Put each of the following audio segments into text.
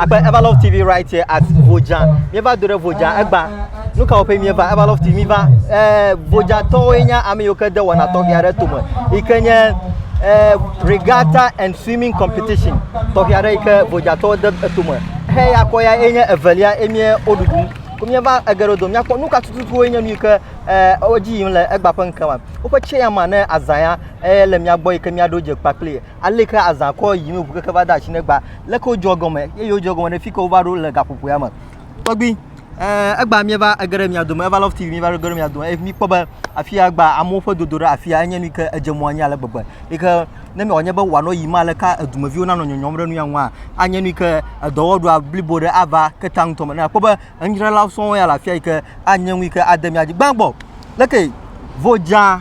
Akpe Everlove TV right here at Voja. Mieva do ɖe Voja egba. Nu kawo ƒe mieva Everlove TV miva. Eh, Voja tɔwoe nye ame yiwo ke de wɔna tɔxɛ aɖe tome. Yi ke nye eh, regatta and swimming competition. Tɔxɛ aɖe yi ke Voja tɔwo de etome. He ya kɔ ya enye evelia emie woɖuɖu. Ko mieva egeɖo do miakpɔ nu ka tututuwoe nye nu yi ke eh, edzi yim le egba ƒe ŋkema. Woƒe tseyama ne azã ya eh, le mia gbɔ yi ke miaɖo dze kpakpli. Aleke ke azã kɔ yim ŋu keke va de asi negba. Leke wodzɔ egɔme eye wodzɔ egɔme ɖe fi ke wova ɖo le gaƒoƒoea me. Tɔgbi, ɛɛ egba míeva ege ɖe mia dome, eva Love TV míeva ege ɖe mia dome eye míkpɔ be afi ya gba amewo ƒe dodo ɖe afi ya enye nu yi ke edze mɔ anyi ale gbegbe yi ke ne wòanye be wòanɔ yiyim aleka edumeviwo nanɔ nyɔnyɔm ɖe nu ya ŋua, anye nu yi ke edɔwɔɖua blibo ɖe ava ketea ŋutɔ me. Ne akpɔ be enudzralawo sɔŋ ya le afi ya yi ke anye nu yi ke ade mía dzi. Gbãgbɔ, leke vodzaa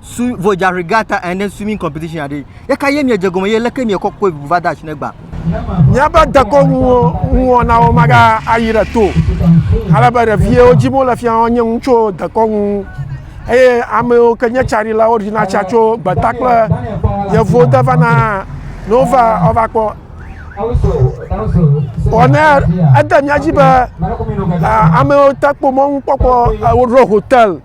swi vodza regata ene swimming competition aɖe yeka ye miedze gɔme ye leke miekɔ kɔe ʋuʋu va de asi ne gba Míaƒe dekɔnuwɔnawo magayi ɖe to o, ale be ɖeviwo dim wole fia wonye nu tso dekɔnu ŋu eye ame yiwo ke nye tsaɖilawo ɖina tsa tso gbeta kple yevuwo de vana ne wova wova kpɔ. Vɔ ne ede mía dzi be ame yiwo te kpɔ mɔnukpɔkpɔ woɖo hotel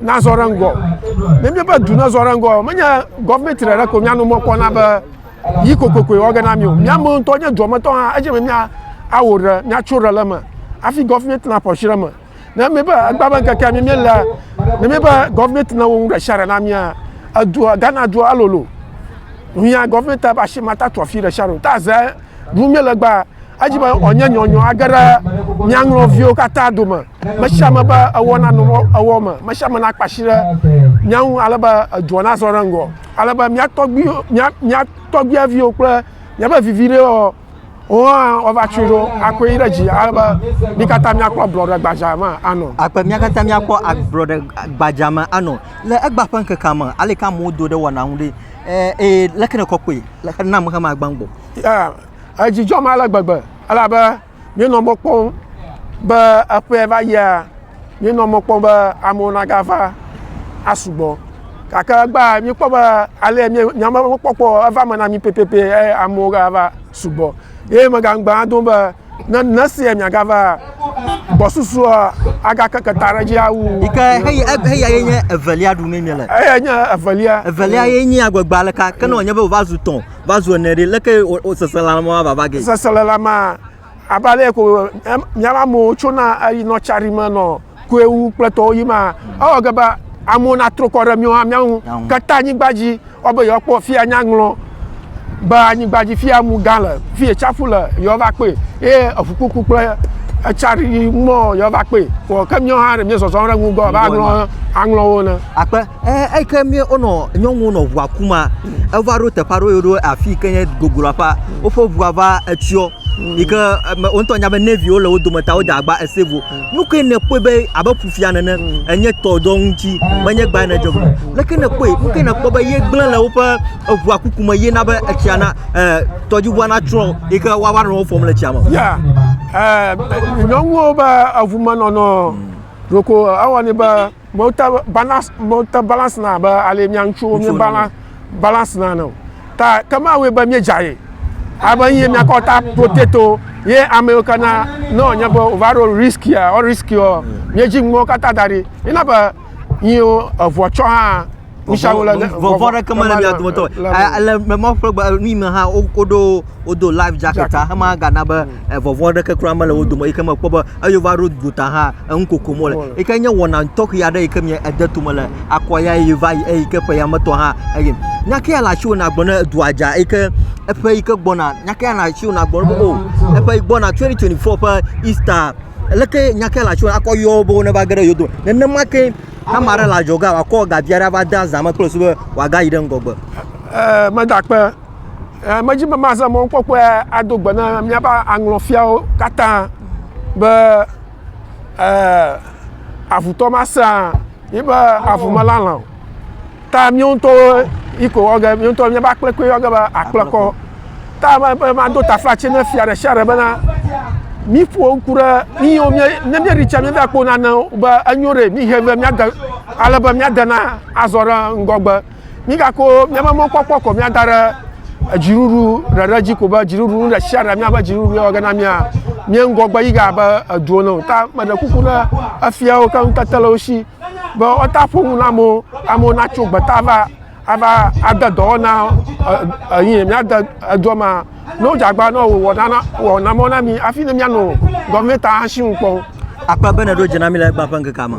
nazɔ ɖe ŋgɔ ne míaƒe du nazɔ ɖe ŋgɔ menye gɔvmenti ɖeɖe ko míano mɔ kpɔna be yi kokokoe wɔ ge na mí o míamewo ŋutɔ nye duametɔ hã edze be mía awɔ ɖe míatso ɖe le eme hafi gɔvmenti naƒo asi ɖe eme ne míebe egba be ŋkekea mí míele ne míebe gɔvmenti nawɔ nu ɖe sia ɖe na mía edua ghana dua elolo hiã gɔvmenti be asi matatu afi ɖe sia ɖe o ta ze Ɖum míele be edzi be wòanye nyɔnyɔ age ɖe mía ŋlɔviwo katã dome. Me sia me be ewɔ na nɔ ewɔ me. Me sia me nakpe asi ɖe mía ŋu ale be edua nazɔ ɖe ŋgɔ. Ale be mía tɔgbi, mía, mía tɔgbiaviwo kple míaƒe viviɖewo hã woava tsɔe ɖo akɔe yi ɖe dzi ale be mí katã míakpɔ ablɔɖe gbadzaa me anɔ. Akpe mía katã míakpɔ ablɔɖe gbadzaa me anɔ. Le egbea ƒe ŋkekea me, aleke amewo do ɖe wɔna ŋu ɖe? Ee, ee, leke nèkɔ kpɔe? Leke na ameha ma gbã gbɔ? Ya, edzi dzɔ me ale gbegbe, elabe míenɔ mɔ kpɔm be eƒea va yia, míenɔ mɔ kpɔm be amewo nagava asugbɔ. Gake egbea, míekpɔ be ale míenya be mɔkpɔkpɔ eva me na mí pɛpɛpɛ eye amewo gava sugbɔ. Ye megaŋugbe hã dom be, Ne ne esia miagava gbɔsusuɔ agakeke ta ɖe dzi awu. Yi ke heyi eb- heya ye nye evelia ɖu ne miele. Eya nye evelia. Evelia ye nye agbegbe aleka ke ne wònye be wòva zu tɔ̃, va zu ene ɖe, leke wò- wò seselelãmea vava ge? Seselelãmea, abe ale ko em- míaƒe amewo tsona eyinɔ tsa ɖim nɔ koe wu kple tɔwo yi ma. Ewɔ ge be amewo natrɔ kɔ ɖe míawo hã mía ŋu kata anyigba dzi ewɔ be yewoakpɔ fi ya nya ŋlɔ be anyigba dzi fi ya mu gã le, fi ya tsaƒu le yewoava kpɔe eye eƒukpokpu kple etsa ɖiɖi mɔ yewoava kpɔe. Vɔ ke míawo hã ɖe míezɔzɔm ɖe eŋu be abe aŋlɔ aŋlɔwo ene. Akpe. eyike wonɔ nyɔnuwo nɔ ʋua kum ma eva ɖo teƒe aɖe woyɔɖo afike nye gogloaƒa woƒe ʋua va tsyɔ yike wo ŋtɔ anya be neviwo le wodome ta wode agba save wo nukɛ nekpɔe be abe ƒuƒia nene enye tɔ ɖe wo ŋti menye gba yi nedze ʋu o leke nekpɔe nukɛ nekpɔ be ye gble le woƒe ʋua kuku me ye na be etsia na tɔdziʋua na tsyɔ yike woava nɔ wo fɔm le tsia me ya nyɔnuwo be eʋu menɔnɔ ɖoko ewɔni be Mewota balance, mewota balance na abe ale mia ŋutsuwo mi balance balance na ne o. Ta ke ma wɔe be mi dza ye. Abe ye mia kɔ ta potato ye ame yo kana ne o nye be o va ɖo risk ya, o risk yo. Mi dzi ŋmɔ kata da ɖi. Ina be yi o evo tsɔ ha. Vɔvɔ aɖeke mele mia dometɔ le mɔ ƒe gbe nui me hã woɖo wodo life jacket hã hema gana be vɔvɔ aɖeke kura mele wo dome yike mekpɔ be eye wova ɖo gota hã enu kokom wole yike nye wɔna tɔxɛ aɖe yike mia ede tome le akɔ ya eye va yi eye ke ƒe ya me tɔ hã eye nyake ya le asi wɔ nagblɔ ne edua dza yike eƒe yike gbɔna nyake ya le asi wɔ nagblɔ be o eƒe gbɔna 2024 ƒe Easter leke nyake ya le asi wɔ akɔ yɔ wo be ne va ge ɖe yewo dome nenema ke Ne ame aɖe le adzɔgea, wòakɔ ga vi aɖe ava de azã me kple su be wòagayi ɖe ŋgɔgbe. Ee, megakpe. Ee, medi be maze mɔnukpɔkpɔe ado gbe na míaƒe aŋlɔfiawo katã be ee, avutɔ masea yiƒe avumelalã o. Ta míawo ŋutɔwo yi ko wɔ ge, míawo ŋutɔ míaƒe akple koe wɔ ge be akple kɔ. Ta be mado taflatse ne fia ɖe sia ɖe bena míƒo ŋku ɖe míwo mía ne míeɖi tsia míeva kpɔ nanewo be enyo ɖe míhe be míade ale be míade na azɔ ɖe ŋgɔgbe. Mígako míaƒe mɔkpɔkpɔ kɔ míada ɖe edziɖuɖu ɖeɖe dzi ko be dziɖuɖu nu ɖe sia ɖe míaƒe dziɖuɖu wɔ ge na mía mía ŋgɔgbe yi ge abe edu ene o. Ta meɖe kuku ne efiawo keŋ kete le wo si. be woata ƒo nu na amewo, amewo natso gbeta va ava ade dɔwɔna eyi míade edɔ ma. Ne wodze agba na wò wɔna na wɔna mɔ na mi hafi ne míanɔ gɔmɛnta asi ŋu kpɔ. Akpa be nèɖo dze na mi le egba ƒe ŋkekea me.